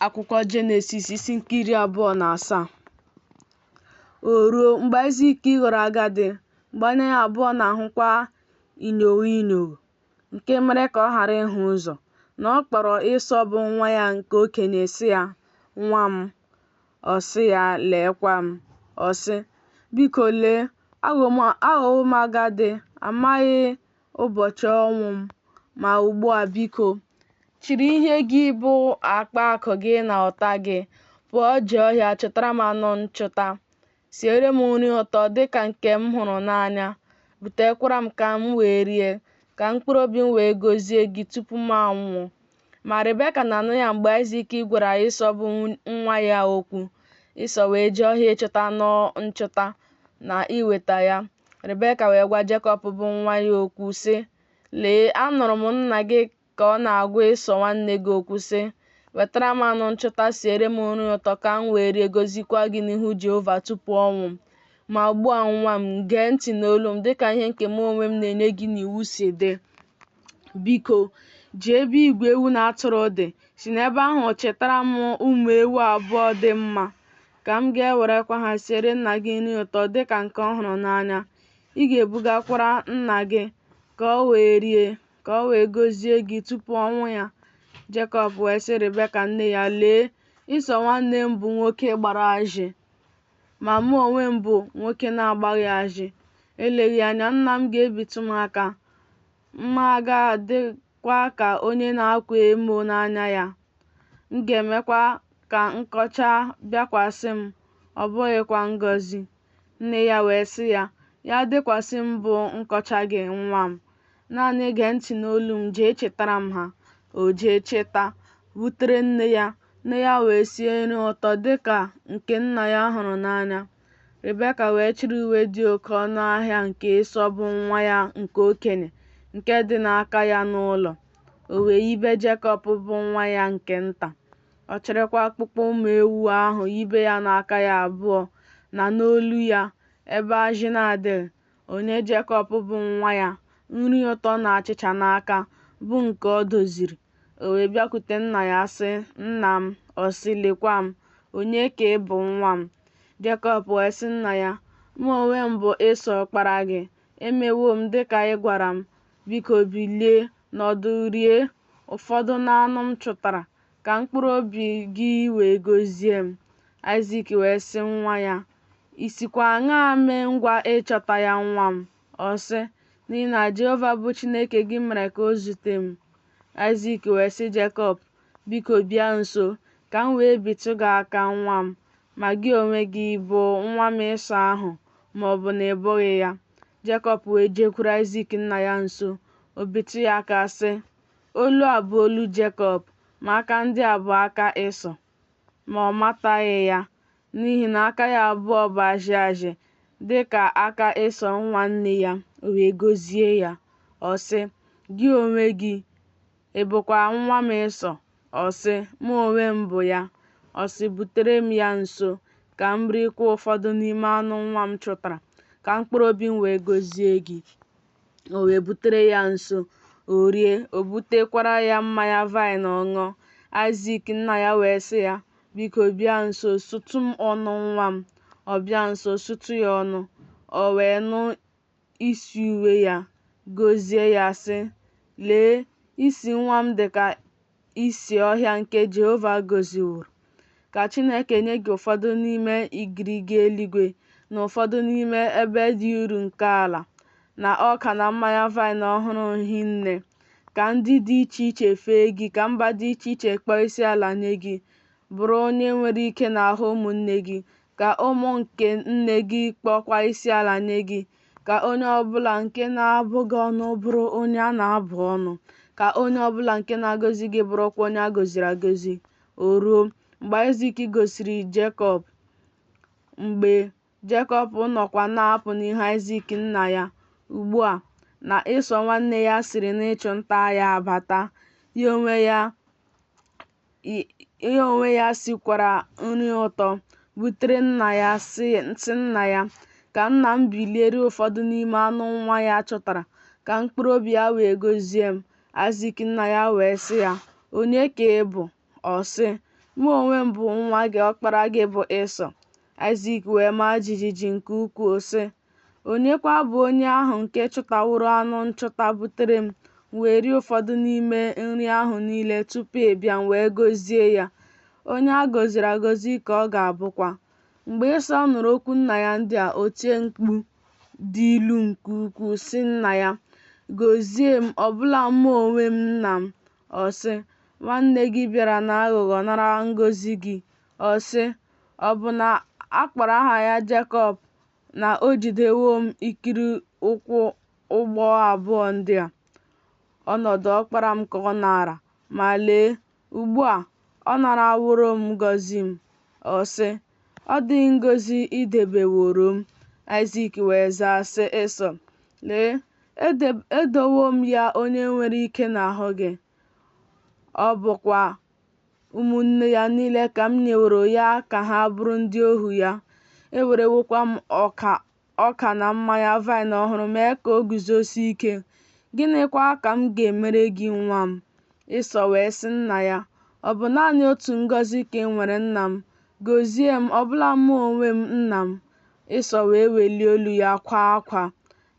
akwụkwọ Jenesis isi nke iri abụọ na asaa. O ruo mgbe Aịzik ghọrọ agadi, mgbe anya ya abụọ na-ahụkwa inyogho inyogho, nke mere ka ọ ghara ịhụ ụzọ, na ọ kpọrọ Ịsọ bụ nwa ya nke okenye sị ya, Nwa m. Ọ sị ya, Leekwa m. Ọ sị, Biko lee, aghọwo m agadi, amaghị ụbọchị ọnwụ m, ma ugbu a biko, chịrị ihe gị bụ akpa akụ gị na ụta gị pụọ jee ọhịa chụtara m anụ nchụta siere m nri ụtọ dị ka nke m hụrụ n'anya butekwara m ka m wee rie ka mkpụrụ obi m wee gọzie gị tupu m anwụọ ma rebeka na-anụ ya mgbe aịzik gwara ịsọ bụ nwa ya okwu ịsọ wee jee ọhịa ịchụta anụ nchụta na iweta ya rebeka wee gwa jekọb bụ nwa ya okwu sị Lee, anụrụ m nna gị ka ọ na-agwa Ịsọ nwanne gị okwu sị, Wetara m anụ nchụta, siere m nri ụtọ ka m wee rie gọzikwa gị n'ihu Jehova tupu ọnwụ m. Ma ugbu a nwa m, gee ntị n'olu m dịka ihe nke mụ onwe m na-enye gị n'iwu si dị. Biko, jee ebe igwe ewu na atụrụ dị, si n'ebe ahụ chịtara m ụmụ ewu abụọ dị mma, ka m ga-ewerekwa ha siere nna gị nri ụtọ dịka nke ọ hụrụ n'anya. Ị ga-ebugakwara nna gị ka o wee rie, ka o wee gọzie gị tupu ọnwụ ya. Jekọb wee sị Rebeka nne ya, Lee, Ịsọ nwanne m bụ nwoke gbara ajị, ma mụ onwe m bụ nwoke na-agbaghị ajị. Eleghị anya nna m ga-ebitụ m aka, m ga-adịkwa ka onye na-akwa emo n'anya ya. M ga-emekwa ka nkọcha bịakwasị m, ọ bụghịkwa ngọzi. Nne ya wee sị ya, Ya dịkwasị m bụ nkọcha gị nwa m. Naanị gee ntị n'olu m jee chịtara m ha. O jee chịta, butere nne ya. Nne ya wee sie nri ụtọ dị ka nke nna ya hụrụ n'anya. Rebeka wee chịrị uwe dị oke ọnụ ahịa nke Ịsọ bụ nwa ya nke okenye nke dị n'aka ya n'ụlọ. O wee yibe Jekọb bụ nwa ya nke nta. Ọ chịrịkwa akpụkpọ ụmụ ewu ahụ yibe ya n'aka ya abụọ na n'olu ya, ebe ajị na-adịghị, o nye Jekọb bụ nwa ya nri ụtọ na achịcha n'aka, bụ nke o doziri. O wee bịakwute nna ya sị, Nna m, ọ sị, Lekwa m, onye ka ị bụ nwa m? Jekọb wee sị nna ya, Mụ onwe m bụ Ịsọ ọkpara gị, emewo m dịka ị gwara m, biko bilie, Nọdụ rie ụfọdụ n'anụ m chụtara, ka mkpụrụ obi gị wee gọzie m. Aịzik wee sị nwa ya, I sikwa aṅaa mee ngwa ịchọta ya nwa m? Ọ sị, N'ihi na Jehova bụ Chineke gị mere ka o zute m. Aịzik wee sị Jekọb, Biko bịa nso, ka m wee bitụ gị aka nwa m, ma gị onwe gị bụ nwa m Ịsọ ahụ ma ọ bụ na ị bụghị ya. Jekọb wee jekwuru Aịzik nna ya nso, o bitụ ya aka sị, Olu a bụ olu Jekọb, ma aka ndị a bụ aka Ịsọ. Ma ọ mataghị ya, n'ihi na aka ya abụọ bụ ajị ajị dị ka aka Ịsọ nwanne ya, o wee gọzie ya. Ọ sị, Gị onwe gị, Ị bụkwa nwa m Ịsọ? Ọ sị, Mụ onwe m bụ ya. Ọ sị, Butere m ya nso, ka m rikwa ụfọdụ n'ime anụ nwa m chụtara, ka mkpụrụ obi m wee gọzie gị. O wee butere ya nso, o rie, o butekwara ya mmanya vaịn ọ ṅụọ. Aịzik nna ya wee sị ya, Biko bịa nso, sụtụ m ọnụ nwa m. Ọ bịa nso, sụtụ ya ọnụ. O wee nụ isi uwe ya, gọzie ya, sị, Lee, isi nwa m dị ka isi ọhịa nke Jehova gọziworo. Ka Chineke nye gị ụfọdụ n'ime igirigi eluigwe na ụfọdụ n'ime ebe dị uru nke ala, na ọka na mmanya vaịn ọhụrụ hinne. Ka ndị dị iche iche fee gị, ka mba dị iche iche kpọọ isi ala nye gị. Bụrụ onye nwere ike n'ahụ ụmụnne gị, ka ụmụ nke nne gị kpọọkwa isiala nye gị, ka onye ọ bụla nke na-abụ gị ọnụ bụrụ onye a na-abụ ọnụ, ka onye ọ bụla nke na-agọzi gị bụrụkwa onye a gọziri agọzi. O ruo, mgbe Aịzik gọziri Jekọb, mgbe Jekọb nọkwa na-apụ n'ihu Aịzik nna ya, ugbu a, na Ịsọ nwanne ya siri n'ịchụ nta ya abata, ya onwe ya ya onwe ya sikwara nri ụtọ butere nna ya sị nna ya, Ka nna m bilie rie ụfọdụ n'ime anụ nwa ya chụtara, ka mkpụrụ obi ya wee gọzie m. Aịzik nna ya wee sị ya, Onye ka ị bụ? Ọ sị, Mụ onwe m bụ nwa gị, ọkpara gị bụ Ịsọ. Aịzik wee maa jijiji nke ukwuu, sị, Onyekwa bụ onye ahụ nke chụtaworo anụ nchụta butere m, m wee rie ụfọdụ n'ime nri ahụ niile tupu ị bịa, m wee gọzie ya. Onye a gọziri agọzi ka ọ ga-abụkwa. Mgbe Ịsọ nụrụ okwu nna ya ndị a, o tie mkpu dị ilu nke ukwuu, sị nna ya, Gọzie m, ọbụla mụ onwe m, nna m. Ọ sị, Nwanne gị bịara n'aghụghọ nara ngọzi gị. Ọ sị, Ọ bụ na a kpọrọ aha ya Jekọb, na o jidewo m ikiri ụkwụ ugbo abụọ ndị a, ọnọdụ ọkpara m ka ọ naara, ma lee, ugbu a ọ naraworo m ngọzi m. Ọ sị, Ọ dịghị ngọzi i debeworo m. Aịzik wee zaa, sị Ịsọ, Lee, edowo m ya onye nwere ike n'ahụ gị, ọ bụkwa ụmụnne ya niile ka m nyeworo ya ka ha bụrụ ndị ohu ya. Ewerewokwa m ọka na mmanya vaịn ọhụrụ mee ka o guzosie ike. Gịnịkwa ka m ga-emere gị nwa m? Ịsọ wee sị nna ya, Ọ bụ naanị otu ngọzi ka i nwere nna m. Gọzie m, ọbụla mụ onwe m nna m. Ịsọ wee welie olu ya kwaa akwa.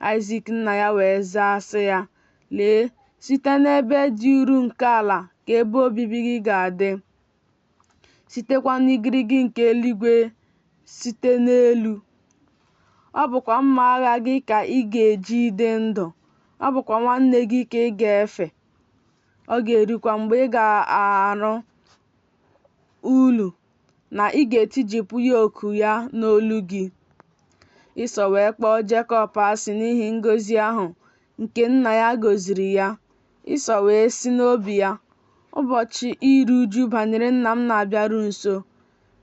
Aịzik nna ya wee zaa sị ya, Lee, site n'ebe dị uru nke ala ka ebe obibi gị ga-adị, sitekwa n'igirigi nke eluigwe site n'elu. Ọ bụkwa mma agha gị ka ị ga-eji dị ndụ, ọ bụkwa nwanne gị ka ị ga-efe. Ọ ga-erukwa mgbe ị ga-arụ ulu na ị ga-etijipụ yoku ya n'olu gị. Ịsọ wee kpọọ Jekọb asị n'ihi ngọzi ahụ nke nna ya gọziri ya. Ịsọ wee sị n'obi ya, Ụbọchị iru uju banyere nna m na-abịaru nso,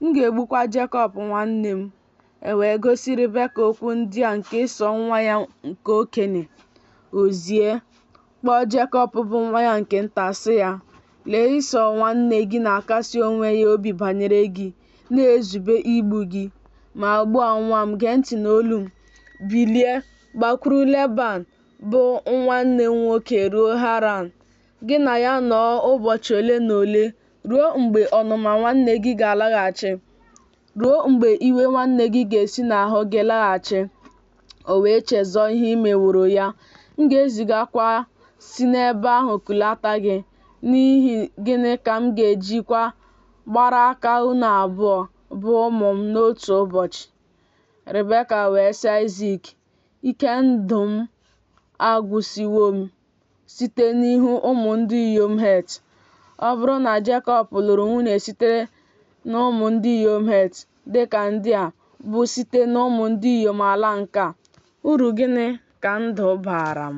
m ga-egbukwa Jekọb nwanne m. E wee gosi Ribeka okwu ndị a nke Ịsọ nwa ya nke okenye. O zie, kpọọ Jekọb bụ nwa ya nke nta sị ya, Lee Ịsọ nwanne gị na-akasi onwe ya obi banyere gị, na-ezube igbu gị. Ma ugbu a nwa m, gee ntị n'olu m. Bilie, gbakwuru Leban bụ nwanne m nwoke ruo Haran. Gị na ya nọọ ụbọchị ole na ole ruo mgbe ọnụma nwanne gị ga-alaghachi. ruo mgbe iwe nwanne gị ga-esi n'ahụ gị laghachi, o wee chezọọ ihe i meworo ya. M ga-ezigakwa si n'ebe ahụ kulata gị. N'ihi gịnị ka m ga-ejikwa gbara aka unu abụọ bụ ụmụ m n'otu ụbọchị? Ribeka wee sị Aịzik, Ike ndụ m agwụsịwo m. site n'ihu ụmụ ndị inyom Het. Ọ bụrụ na Jekọb lụrụ nwunye sitere n'ụmụ ndị inyom Het dị ka ndị a bụ site n'ụmụ ndị inyom ala nke a, uru gịnị ka ndụ baara m?